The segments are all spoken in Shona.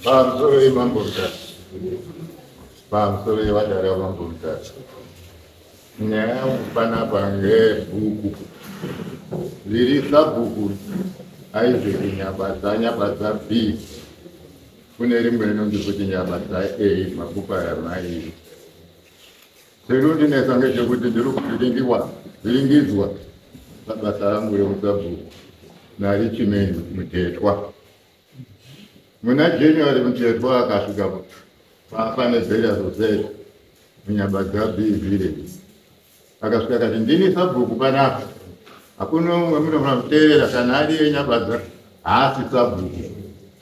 pamusoro yemambo mutatu pamusoro yevadari vamambo mutatu nyaya yangu panapa ngebhuku riri sabhuku aizeki nyabadza nyabadza b kune rimwe rinonzi kuti nyabadza a makupa yamairi Zvinondinetsa ngezvekuti ndiri kuvhiringiwa vhiringidzwa pabasa rangu reusabhuku narichimeni mutetwa muna january mutetwa akasvika papa nezera zozera munyamba dzabi village akasvika kati ndini sabhuku panapa hakuna umwe munofanira kuteerera kana ari yenyabadza haasi sabhuku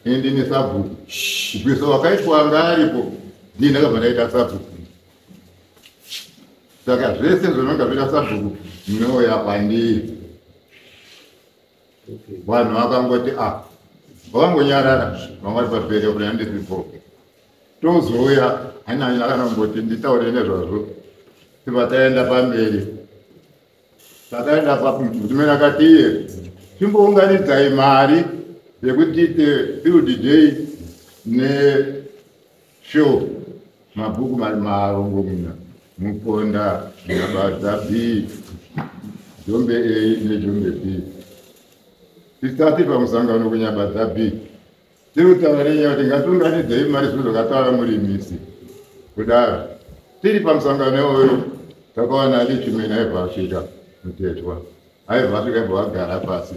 ini ndini sabhuku gwiso wakaitwa anga aripo ndii ndakabva ndaita sabhuku saka zvese zvinonga zvida sabhuku mnouya kwandiri vanhu vakangoti a ah, vakangonyarara vangati pabheri kuti handisipoke tozouya hanyanya akanangoti nditaure nezvazvo tiba taenda pamberi takaenda pamutumira kati iye chimbounganidzai mari yekuti tiite field day ne Sure, mabhuku mari marongomuna muponda nabadza b jombe a nejombe b tisati pamusangano kunyabadza b tiri kutaura nenyaya kuti ngatiunganidzei mari zviro zvakataura murimisi kudaro tiri pamusangano iwoyo takawana lichimena evasvika mutetwa aibva asvika ibva agara pasi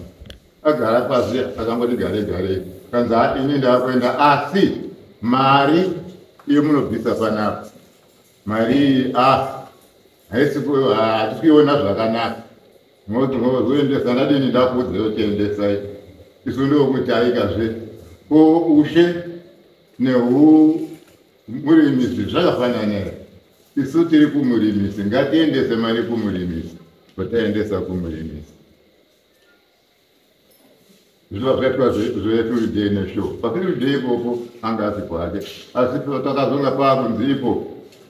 agara pasi akangoti gare gare kanzi ha ini ndakuenda asi mari iyo munobvisa panapa mari iyi a ah, haisi hatisi kuiona zvakanaka moti mozoendesa ndadini ndakuudza yotiendesai isu ndokutaikazve ko ushe nehu murimisi zvakafanana here isu tiri kumurimisi ngatiendese mari kumurimisi votaendesa kumurimisi zviva zvaitwa zvetulidei nesho patulidei ikoko anga asi kwake asi takazonga paakunzi ipo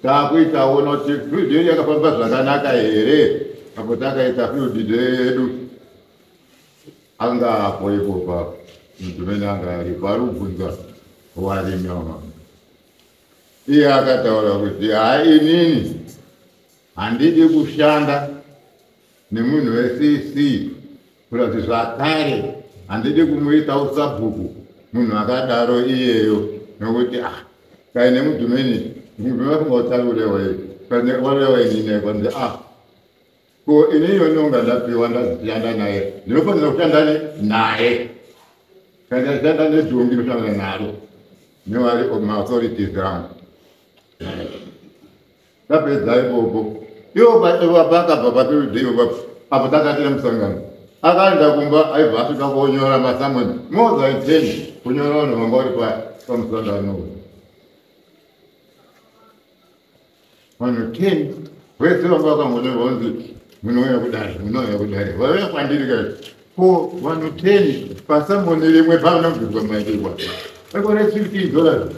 taakuitaona kuti tulidei yakafamba zvakanaka here apo takaita tulidei yedu anga apo ipopa mntu mene anga aripo ari kubvunza warimi wamama iye akataura kuti haa inini handidi kushanda nemunhu wecc kurati zvakare handidi kumuita usabhuku munhu akadaro iyeyo nokuti a ah, kai nemudhumeni mudhumeni vafunga utarurewa iye walewa inini kwanzi a ah, ko ini iwe ndonga ndapiwa ndazishanda naye ndinofanira kushanda naye kana ndashanda nezhombi ndoshandana naro newari maauthorities angu tapedza ipopo ivo vakabva patiridivo apo takatira musangano akaenda kumba aibva asvika kuonyora masamoni moza iteni kunyora vanhu vanga vari pamusangano uyu vanhu 10 vese vanga vakangonyorwa kunzi munouya kudare munouya kudare vauya kwandiri ka ko vanhu 10 pasamboni rimwe pavanobvirwa maidirwa ekore 15 dollars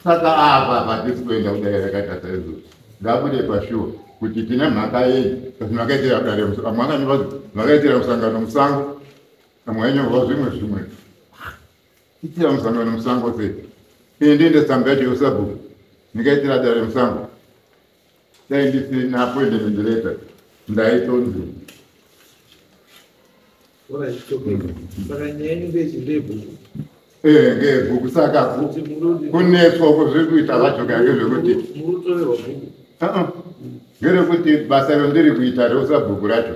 saka apa patisi kuenda kudare rakatasa izvo ngabude pashuwa kuti tine mhaka yei kasi makaitira kudare amwe akanyorwa makaitira musangano musango amwe ainyorwa zvimwe zvimwe itira musangano nemusango se ine ndiende tsamba yacho yosabhuku ndikaitira dare remusango dai ndisina appointment letter ndaitonzi eh, ngebhuku saka kunetswa uko zviri kuita vacho kange zvekuti ngerekuti basa rondiri kuita reusabhuku racho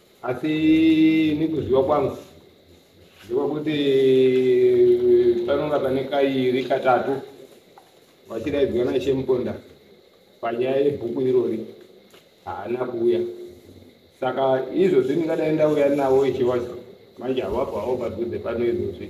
asi nekuziva kwangu ndekwekuti panonga pane kairi katatu vachidaidzwa naishe muponda panyaya yebhuku irori haana kuuya saka izvozvi ndingadai ndauya navo ishe wacho manje havapo havo padhuze pano izvozvi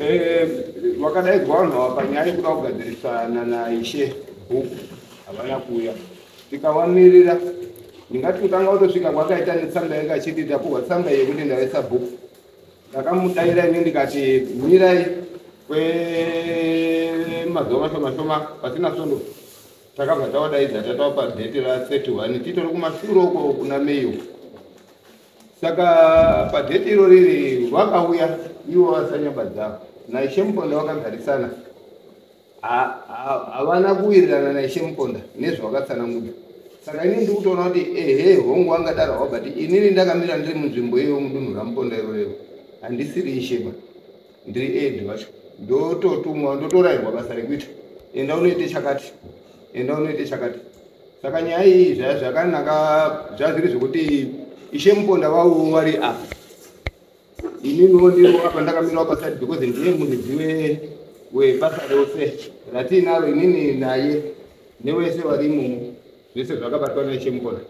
Eh, vakadaidzwa vanhu ava panyaya yekuda kugadzirisana naishe bhuku havana kuuya tikavamirira ndingati kutanga kutosvika kwakaita netsamba yanga achiti tapuhwa tsamba yekuti ndaisa bhuku ndakamudaira ini ndikati mirai kwemazuva mashoma shoma pasina svondo takabva tawadaidza tatava padheti ra 31 titori kumashure uko kuna meyo saka padheti iro riri vakauya ivo vasanyamba dzavo naishe muponda vakagarisana havana kuwirirana naishe muponda nezvavakatsananguda saka inini ndi kutoona kuti ehe hongu angadarawo but inini ndakamira ndiri munzvimbo iyoyo mudunhu ramuponda iro rero handisiri isheba ndiri ed vacho ndototumwa ndotorairwa basa rekuita enda unoite chakati enda unoite chakati saka nyaya iyi zvaya zvakanaka zvazviri zvekuti ishe muponda vavo vari apa ininiwo ndiwo apa ndakamirawo paside because ndiye muridzi webasa rose ratiinaro inini naye newese vari imomo zvese zvakabatwa naishe muponda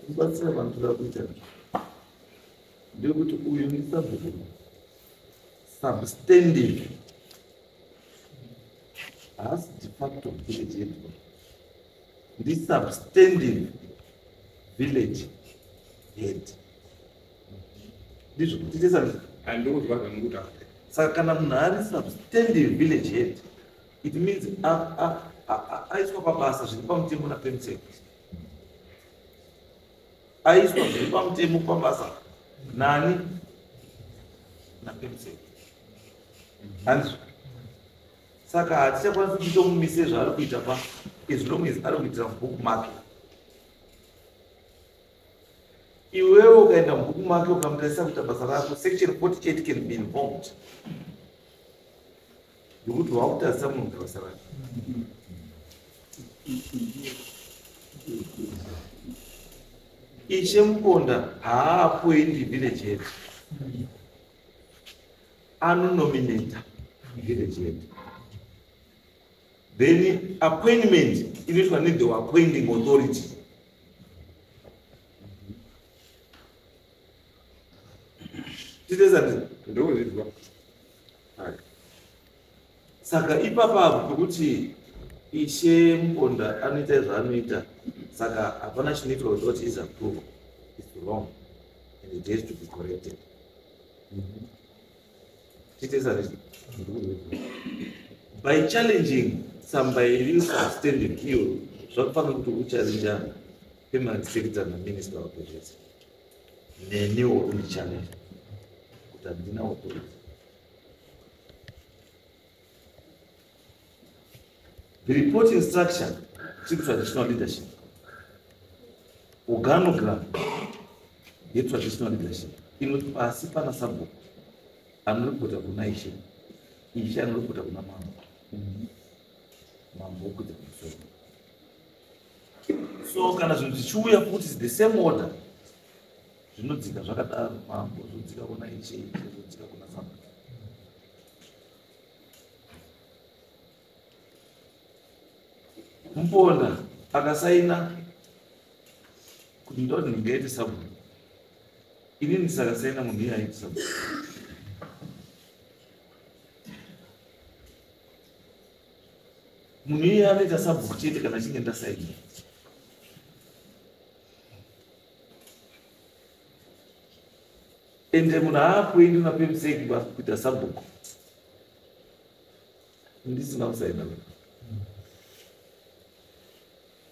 kubatsira vanhu toda kuita ndekuti uyu ndisabhuku substanding haasi de facto village yedu ndisubstanding village head ndizvo kuti tesa andiudzwa zvamukuta saka kana munhu ari substanding village head it means aiswa pabasa zviri pamutemo napemutseko aiswa zviri pamutemo pabasa nani napemsei hanzi saka hatichakwanisi kuita mumise zvaari kuita pa as long as ari kuitira mubook make iwewe ukaenda mubook make ukamutaisa kuita basa rako section 48 can be involved nekuti wakutadzisa munhu gavasa vake ishe muponda haapoindi village head anonominata village head then appointment inoitwa nethe appointing authority titezati ndokuzvidzwa saka ipapa apo pekuti ishe muponda anoita zvaanoita saka hapana chinoitwa kuti what is approval is wrong and it has to be corrected mhm. titezati by challenging some by real substanding iyo zvakufanira kuti uchallengana Pemarisikidza naminista wapedhedza neniwo kundichanera kuti handina wekuita the reporting structure to traditional leadership organogram yetraditional leadership inoti pasi pana sabhuku anoripota kuna ishe ishe anoripota kuna mambo mambo kuda kumusoro so kana zvinhu zvichiuya futi the same order zvinodzika zvakadaro mambo zvodzika kuna iche iche zvodzika kuna samba mupona akasaina kuti ndoti ndingaite sabuni ini ndisakasaina munhu iye aite sabuni munhu iye anoita sabhuku chete kana achinge ndasaidza ende munhu aakuendi unapemseki kuita sabhuku ndisina kusaina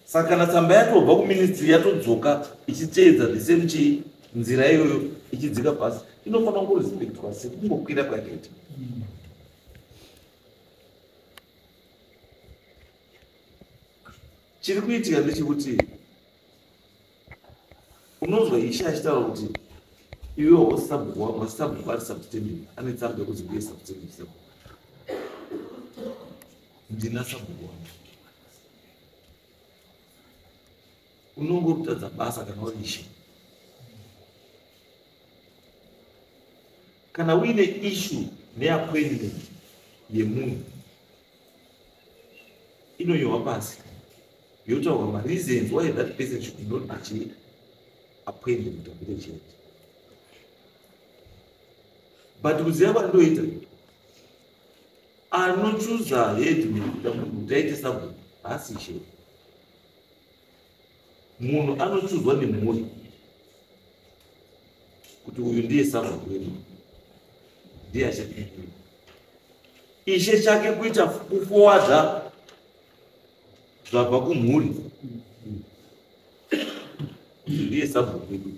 saka kana tsamba yatobva kuministry yatodzoka ichiteedza the same chi nzira iyoyo ichidzika pasi inofanira kungorespectwa sekungokwira kwakaita chiri kuitika ndechekuti unonzwa ishe achitaura kuti iwe wasabhuku wangu asabhuku ari subtendent ane tsamba yekuti ndiye subtendent sabhuku ndina sabhuku wangu unonge kutadza basa kana uri ishe kana uine ishu neappointment yemunhu inonyohwa pasi yotaurwa mareasons why that person should not achiita appointment of the church but kuziva kwandoita anochuza headman kuti aite sabhuku haasi chete munhu anochuzwa nemhuri kuti uyu ndiye sava kwedu ndiye achapindira ishe chake kuita kufowadza zvabva kumhuri ndiye sava kwedu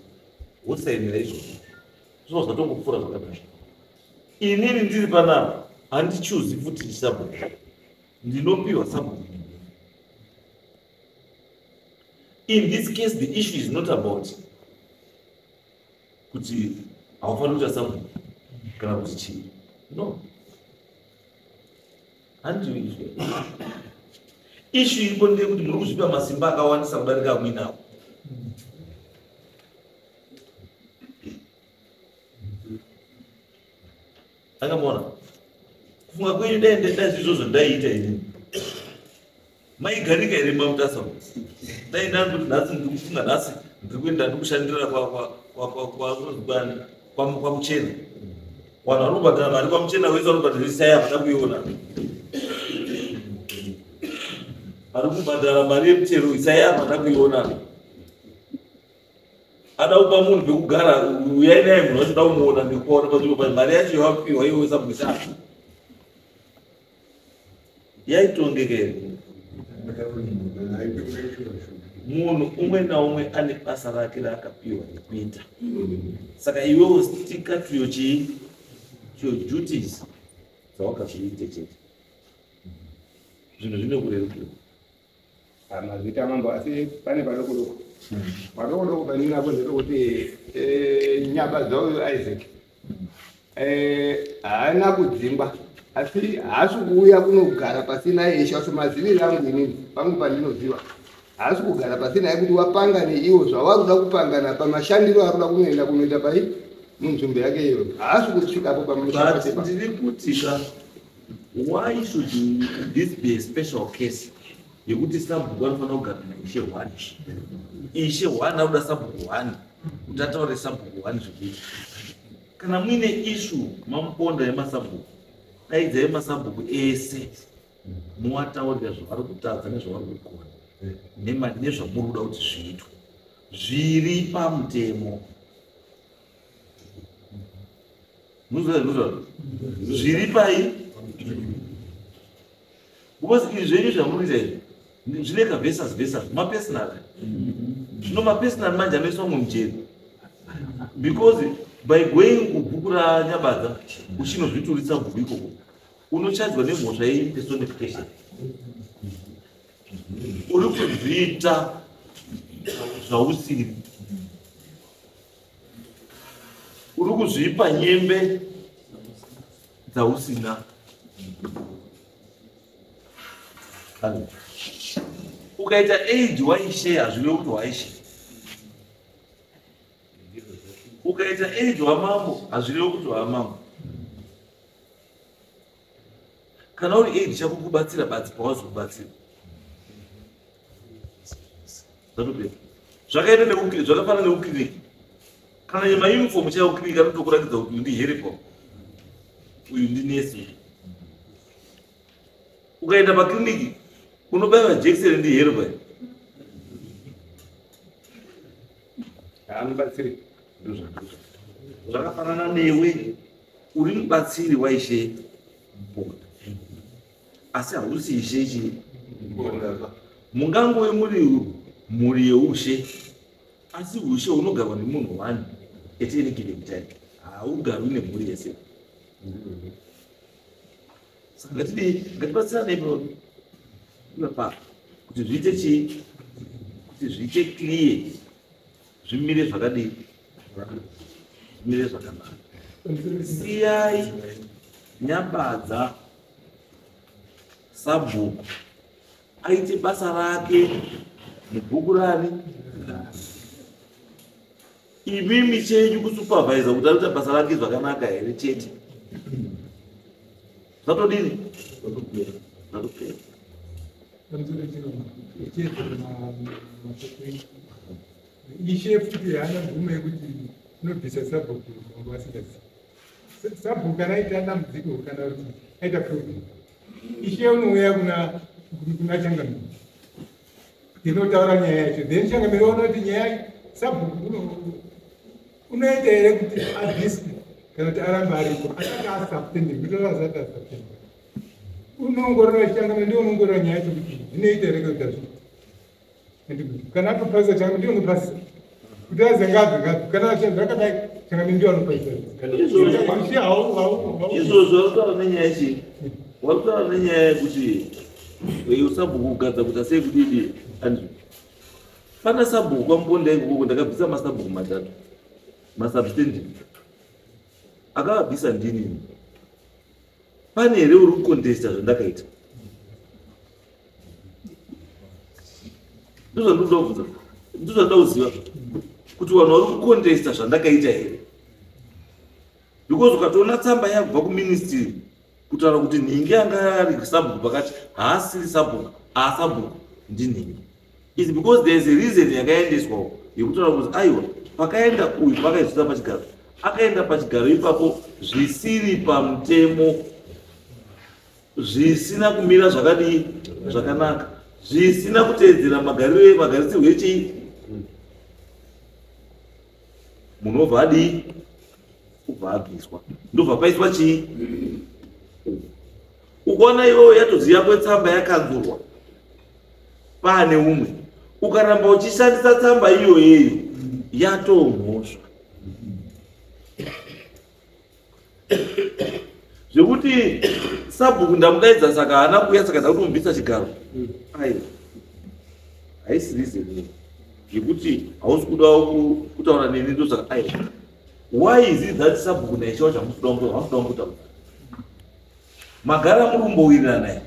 wosainira izvozvo zvino zvatongopfuura zvakadai inini ndiri panapa handichuzi futi chisabhuku ndinopiwa sabhuku in this case the issue is not about kuti haufaniri kuita something kana kuti chii no handiizve issue iripo ndeyekuti muri kuzvipa masimba akawandisa kudarika amwinawo akamona kufunga kwenyu dai ndaita izvozvo ndaiita ini maigarika here mamutasa dai ndanduti nhasi ndiri kufunga nhasi ndiri kuenda ndi kushandira kwamuchena vanhu vanobhadhara mari kwamuchena wese vanobhadhara isaya havana kuiona vari kubhadhara mari yemutero isaya havana kuiona ada kupa munhu pekugara uyai naye munhu wacho ndaumuona ndikuona panzvimbo pa mari yacho yawapihwa iwe usabwisa yaitongekere munhu umwe naumwe ane basa rake raakapiwa nekuita saka iwewo stika tuyo chii tuyo duties dzawakazviite chete zvinhu zvine kurerukirwa Mazita mambo asi pane padoko doko. Padoko doko pandina kunze kuti eh nyaba dzao Isaac. Eh haana kudzingwa asi haasi kuuya kunogara pasina yeshe asi maziviri angu inini pangu pandinoziva haasi kugara pasina yekuti wapanga neiwo zvavari kuda kupangana pamashandiro ari kuda kunoenda kunoita pai munzvimbo yake iyoyo haasi kusvikapo pamushaaaa ndiri kuti ka why should this be a special case yekuti sabhuku anofanira kugamira ishe one ishe one anoda sabhuku one kuti ataure sabhuku one zvekuti kana muine ishu mamuponda yemasabhuku daidzai masabhuku ese muwataurira zvavari kutadza nezvavari kugona nemari nezvamuri kuda kuti zviitwe zviri pamutemo zviri pai because izvi zvenyu zvamuriita izvi zvine kavesas vesas mapersonal zvino mapersonal manje anoiswa mumwe mujeri because by going kubhuku ranyabadza uchinozvituritsa bhuku ikoko unochadzwa nemhosva yeimpersonification uri kuzviita zvausiri uri kuzvipa nyembe dzausina ukaita aid waishe hazvive kuti waishe ukaita aid wamambo hazvirevo kuti wamambo kana uri aid chakukubatsira badzi pawazokubatsira Zvatopera. Zvakaita nekukiri zvakafanana nekukiriki. Kana nyama uniform chaiyo kiriki anotokuratidza kuti ndi heripo. Uyu ndi nesi. Ukaenda pakiriniki unobaiwa jekiseni ndi heripo. Anobatsiri. Zvakafanana newe uri mubatsiri waishe mupota. asi hausi ishe chii mungangove muri mhuri yeushe asi ushe hunogarwa nemunhu one at any given time haugarwi nemhuri yese saka ngatidii ngatibatsirane ipapa kuti zviite chii kuti zviite clear zvimire zvakadii zvimire zvakanaka siyai nyambadza sabhuku aite basa rake mubhuku rani imimi chenyu kusupervisa kuti anoita basa rake zvakanaka here chete zvatodini zvatopera ishe futi haana mvumo yekuti inobvisa sabhuku vangu vasingazivi sabhuku kana aita dambudziko kana kuti aita problem ishe unouya kuna kuna changamiro ndinotaura nyaya yacho then changamiro ona kuti nyaya sabhuku unoita here kuti adhiswe kana kuti aramba ariko asati asaptending kutoa asati asaptending unoongorora changamiro ndiwo unoongorora nyaya yacho kuti zvinoita here kana kuti azviita kana atopaisa changa ndiyo mupaisa kuti aze ngapi ngapi kana achenza akadai changa ndiyo anopaisa izvozvo arutaura nenyaya chi warutaura nenyaya yekuti usabhuku kugadza kuti asei kudidi andrew fana sabhuku kwamubonda ikokoko ndakabvisa masabhuku matatu masubstanding akavabvisa ndinini pane here uri kukondesta zvandakaita ndozvandinoda kubvunza ndozvandinoda kuziva kuti vanhu vari kukondesta zvandakaita here because ukatoona tsamba yabva kuministry kutaura kuti nhingi yanga ari sabhuku pakati haasiri sabhuku aasabhuku ndinhingi is because there is a reason yakaendeswa uko yekutaura kuti aiwa pakaenda uyu pakaizvisa pachigaro akaenda pachigaro ipapo zvisiri pamutemo zvisina kumira zvakadii zvakanaka zvisina kuteedzera magariro magarisirwo echii munhu obva adii ubva abviswa ndobva paiswa chii ukaona iwewo yatozi yako tsamba yakanzurwa paane umwe ukaramba uchishandisa tsamba iyoyeyo yatomhosva zvekuti sabhuku ndamudaidza saka haana kuuya saka ndakuti umubvisa chigaro ai haisi reason yekuti hausi kudawo kutaura neni ndosaka ai why is it that sabhuku naichawa chamusida kutaura magara muri kumbowirirana here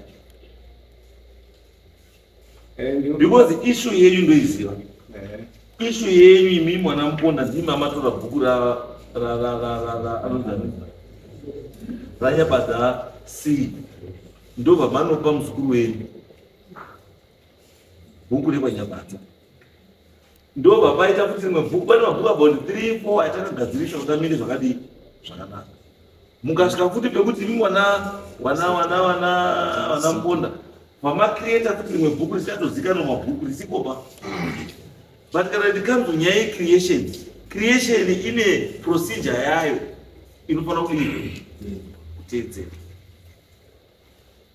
eh, because ishu yenyu ndoiziva eh. ishu yenyu imi mwana muponda ndimi amatora bhuku ranyabada c ndobva manopa muzukuru wenyu bhuku rekwanyamadza ndo vavaita kuti rimwe bhuku pane mabhuku about three four aita kagadzirisa kuti amire zvakadii zvakanaka mukasvika futi pekuti imi wana wana wana wana wana mponda vamacreata kuti rimwe bhuku risatozikanwa mabhuku risikopa but kana ndikanzo nyaya yecreation creation ine procedure yayo inofanira kuti kuteedzera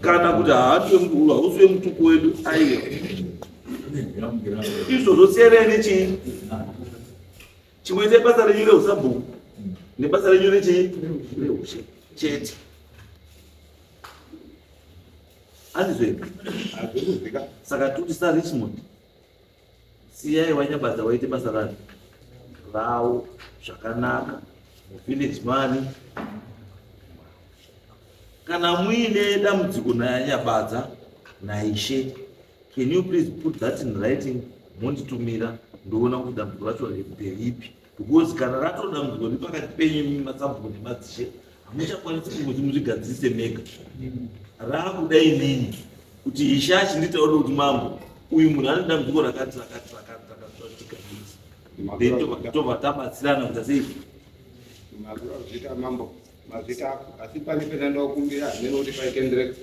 kana kuti hausiwe mutuku wedu aiwa izvo zvosiyana nechii chimwe nebasa renyu reusabhuku nebasa renyu rechii reushe chete andizvei saka tikuti sarichmond siyai vanyabadza vaite basa rani ravo zvakanaka muvillage mani kana muine dambudziko nayanyabadza naishe can you please put that in writing monditumira ndoona kuti dambudziko racho nderipi because kana ratodambudzwa nepakati penyu imi masabhuku nemadzishe hamuchakwanisi kungozi muzvigadzirise mega raakuda inini kuti hishashi nditaure kuti mambo uyu munhu ane dambudziko rakati rakati rakati rakazvatika ii tobva tabatsirana kuita sei mazviro azviita mambo mazita ako asi pane pena ndakukumbira hamene kuti paitendereka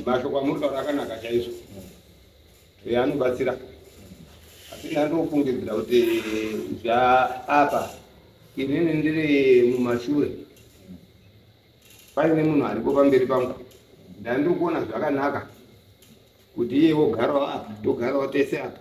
mashoko amuri taura akanaka chaizvo eya anobatsira asi ndandofungidzira kuti zvaapa inini ndiri mumashure paine munhu ariko pamberi pangu ndandiri kuona zvakanaka kuti iye wogarawo apa togarawo tese apa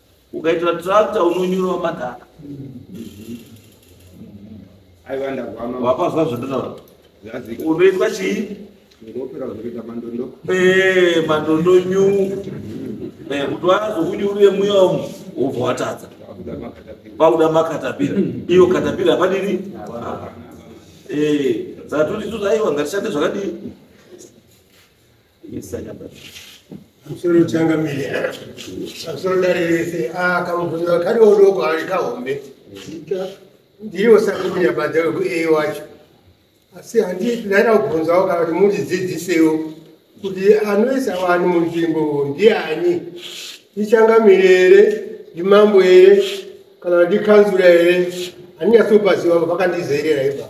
ukaitira tractor unonyura madhaka aiwa ndagwama wapazwa zvandotaura zvazika unoitwa chii ndopera kuzoita mandondo Eh, mandondo nyu Eh, kuti wazokunyurire muya umu wobva watadza vakuda makatapira pauda makatapira iyo katapira padini Eh, saka toti toti aiwa ngatishande zvakadii musoro changa mire musoro dare rese akamuvhunira kari odoko ari kahombe ndiriwo sakumira badza wekuei wacho asi handii ndaida kubvunzawo kana kuti mundidzidzisewo kuti anoisa vanhu munzvimbo ndiani ndichangamire here ndimambo here kana ndikanzura here handinyatsopaziwa vakandizerera ipa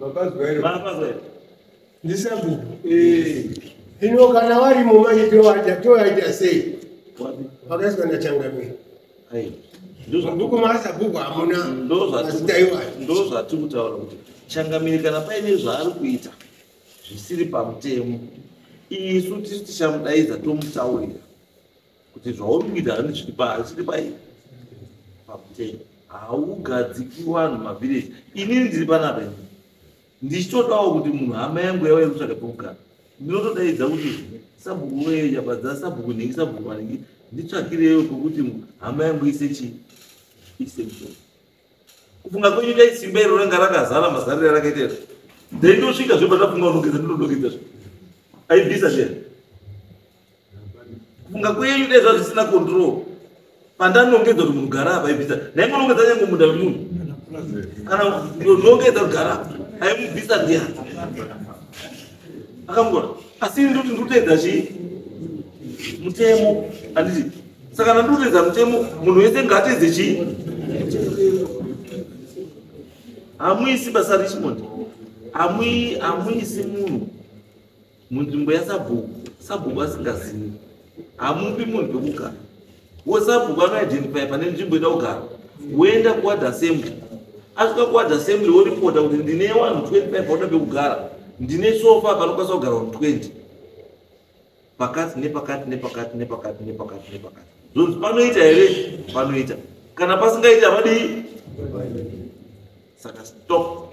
Baba Zwero. Baba Zwero. Ndisabu. Eh. Ino kana wari mumanyi to waja to waja sei. Wapi? Pakaswa na changamire. Hai. Nduku masa buku hamuna. Ndoza. Ndaiwa. Ndoza tikutaura kuti changamire kana paine zvaari kuita zvisiri pamutemo isu tisu tichamudaidza tomutaurira kuti zvauri kuita handisviripa handisviri pai pakutei haugadziki vanhu mavhireji inini ndiri panapa ini ndichitodawo kuti munhu hama yangu yava yekutsvaga pekugara ndinotodaidza kuti sabhuku wee yabadza sabhuku nhingi sabhuku vanhingi nditsvakireyo pokuti hama yangu ise chii ise mshoni kufunga kwenyu dai simba iro ranga rakazara mazariro yarakaita iro ndaitosvika zve pandafunga unogeza ndinodogeza zve aibvisa zve kufunga kwenyu dai zvaa zvisina control pandanongedza kuti munhu gara apa ibvisa ndaingonongedza nyange munda wemunhu kana nongedza kugara apa aimubvisa ndiani akamugona asi ini ndoti ndikuteedza chii mutemo anditi saka ndandikuteedza mutemo munhu wese ngaateedze chii hamuisi basa richmond hamuisi munhu munzvimbo yasabhuku sabhuku asingazivi hamupi munhu vekugara wo sabhuku anoidentify pane nzvimbo ida kugara woenda kuward assembly asvika kuward assembly woripota kuti ndine wanhu 25 vanoda vekugara ndine sofa panokwanisa kugara vanhu 20 pakati nepakati nepakati nepakati nepakati nepakati zvonzi panoita here panoita kana pasingaiti havadii saka stop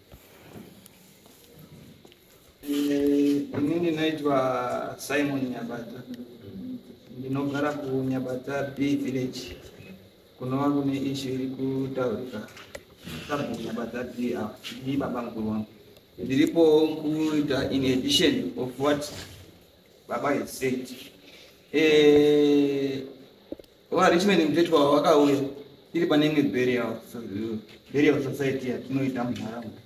Ini ndinoitwa Simon Nyabata. Ndinogara kuNyabata B village. Kunova kune ishu iri kutaurika. Sabhu Nyabata B apa. Ndi baba mukuru wangu. Ndiripo kuita in addition of what baba has said. Eh, Wa Richmond mtetwa wakauya iri pane imwe burial burial society yatinoita munharaunda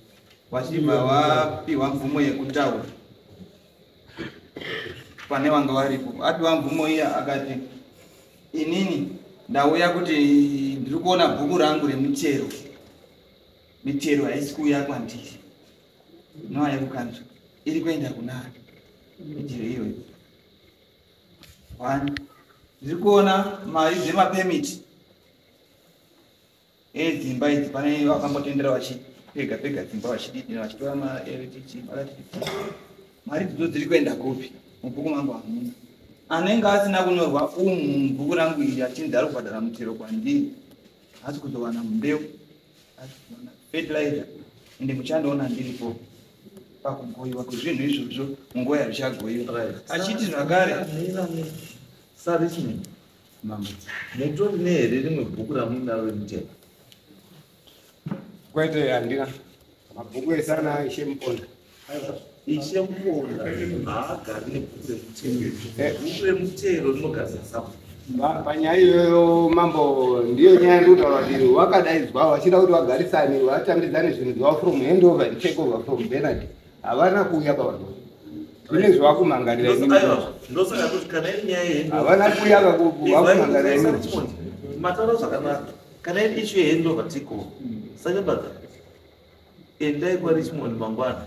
vachibva vapihwa mvumo yekutaura pane vanga varipo apiwa mvumo iya akati inini ndauya kuti ndiri kuona bhuku rangu remitero mitero haisi kuuya kwandiri noa yekukanzwa iri kuenda kunani mitero iyoyo One. Ndiri kuona mari dzemapemiti edzimba idzi pane vakambotendera vachipega pega dzimba vachididira vachitora maLTT maLTT mari dzidzo dziri kuenda kupi mubhuku mangu hamuna anenge asina kunyorwa umu mubhuku rangu iri achinzi ari kubhadhara mutero kwandiri haasi kuzowana mbeu fertilizer ende muchandiona ndiripo pakugoiwa kwezvinhu izvozvo munguva yazvichagoiwa achiti zvakare sarichment mambo mutori nehere rimwe bhuku ramuinaro remutemo kwete handina Mabhuku ese ana Ishe Muponda. Ishe Muponda haagari nebhuku remutero. Eh. Bhuku remutero rinogadzira sabhuku. panyaya iyoyo mambo ndiyo nyaya yandinotaura kuti wakadaidzwa vachida kuti vagarisane vatambidzane zvinhu zvavo from hand over and take over from benard havana kuuya pavanhu kune zvevakumangarira havana kuuya vakumangarira imii mataura zvakanaka kana iri ishu yehendova tiko sanyambaza endai kwarishmond mangwana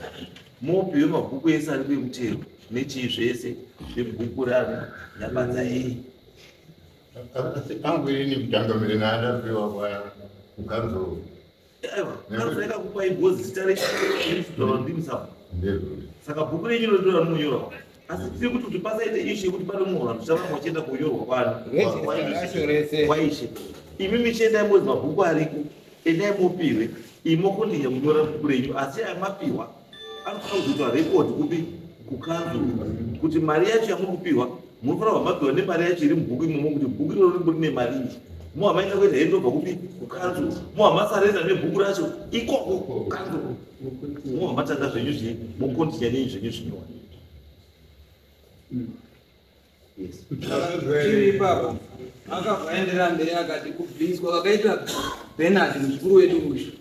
mopiwe mabhuku ese ari kwemutero nechii zvese zvebhuku ravo nyabanza iyi angu ini kutanga mire naadapiwa kwaya kukanzo aiwa kazoenda kupai bhozi zita rechiaandimisa saka bhuku renyu rinotora rinonyora asi tiri kuti kuti pasaite ishu yekuti pane mumwe vanhu tichava vachienda kuyorwa kwano kwaishe imi michiendai mozi mabhuku ariko endai mopihwe imi mokondinya kunyora bhuku renyu asi aya mapihwa anofanira kuzoitwa rekodi kupi kukanzu kuti mari yacho yamuri kupihwa munofanira kuva mapihwa nemari yacho iri mubhuku imomo kuti bhuku iroro rimbori nemari iyi mo hamaita kuenda hendo bva kupi kukanzu mo hamasarenda nebhuku racho ikoko kukanzu Mwa matanga zvenyu zvi mukondya nei zvenyu zvinyora. Yes. Chiri baba. Akavaendera mberi akati kubviswa vakaita Bernard mukuru wedu uyu.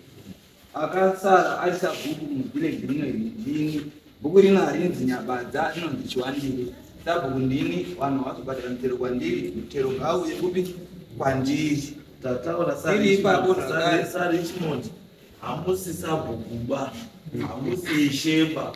Akasara ari sabhuku muvillage rino ndini. Bhuku rino harinzi nyabadza rinonzi chiwandiri. Sabhuku ndini vanhu vazobhadhara mutero kwandiri mutero ngauye kupi kwandiri. Tataura sari sari chimoti. hamusi sabhukuba hamusi shemba